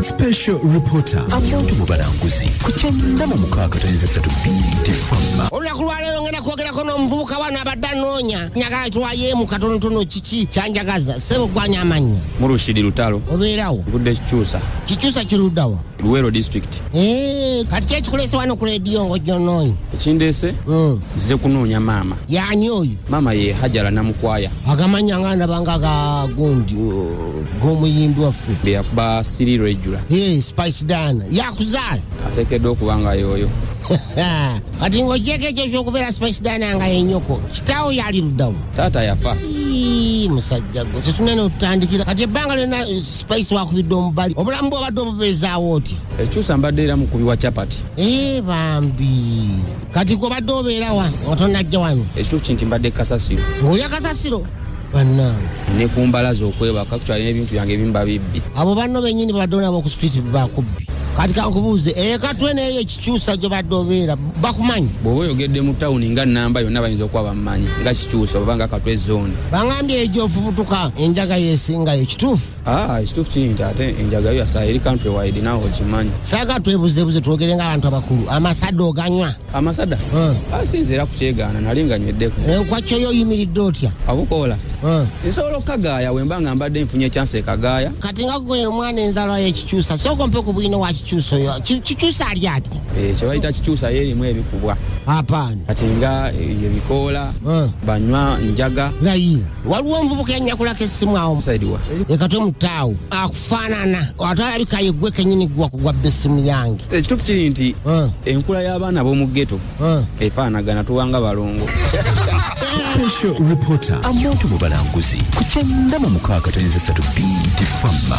Special Reporter abantu mu balanguzi ku kyenda mu mukaaga tonyeza satu bbiri famma olunaku lwaleero ngenda kwogerako n'omuvubuka wano abadde anoonya njagala tuwayeemu katonotono kiki kyanjagaza sebo kwanya amannya murushidi lutalo obeerawo nvudde kikyusa kikyusa kiruddawa luwero district ee eh, kati kyekikuleese wano ku rediyo ngaojjonoonya ekindeese hmm. nzize kunoonya maama yaani oyo maama ye hajala namukwaya agamanya nga ndabanga gagundi g'omuyimbi waffe byeyakuba siriiro ejjula hey, spice dan yakuzaala ateekeddwa okuba nga yooyo kati ng'ogyeko ekyo kyokubeera spice dan nga yenyoko kitaawo yali luddawo taata yafa musajja gwe tetunene otutandikira kati ebbanga lyona eh, spice wakubidde omubali obulamu bwobadde obubeezaawo oti ekyusa mbadde era mukubi wa chapati ee eh, bambi kati gwobadde obeerawa nga tonajja wano ekituufu kinti mbadde kasasiro ng'olya kasasiro bannange ne ku mbala z'okwebaka kukyalina ebintu byange ebimu babibbi abo banno bennyini babaddewo nabo ku street bakubbi kati kankubuuze ekatwe eh, neeyo ekikyusa gyobadde obeera bakumanyi bw'oba oyogedde mu tawuni nga namba yonna bayinza okuba bamumanyi nga kikyusa oba nga katwe zooni bangambye ejo ofubutuka enjaga yesingayo kituufu Ah, ekituufu kiri nti ate enjaga yo yasaala eri country wide nawe okimanyi saga twebuzebuze twogere nga abantu abakulu amasada oganywa amasada hmm. asinze ah, era kukyegaana nali nga nyweddeko enkwakyo eh, yo oyimiridde otya abukoola hmm. nsobola okukagaaya wemba nga mbadde nfunye ekyansi ekagaaya kati nga gwe omwana enzalwa yekikyusa sooka ompe ku bwino wa kikyusa oyo kikyusa ali ati eh, kyebayita kikyusa yo erimu ebikubwa apaani kati nga eh, ebikoola hmm. banywa njaga naye waliwo omuvubuka yanyakulako essimu awo leka tomutaawo akufaanana ate alabika yeggwe kenyini gwa kugwa bba essimu yange ekituufu kiri nti eh. enkula y'abaana b'omu geto eh. efaanagana tuwanga balongo special reporter amuntu mu balanguzi ku kyenda mu mukaaga tonyeza satu bidi fama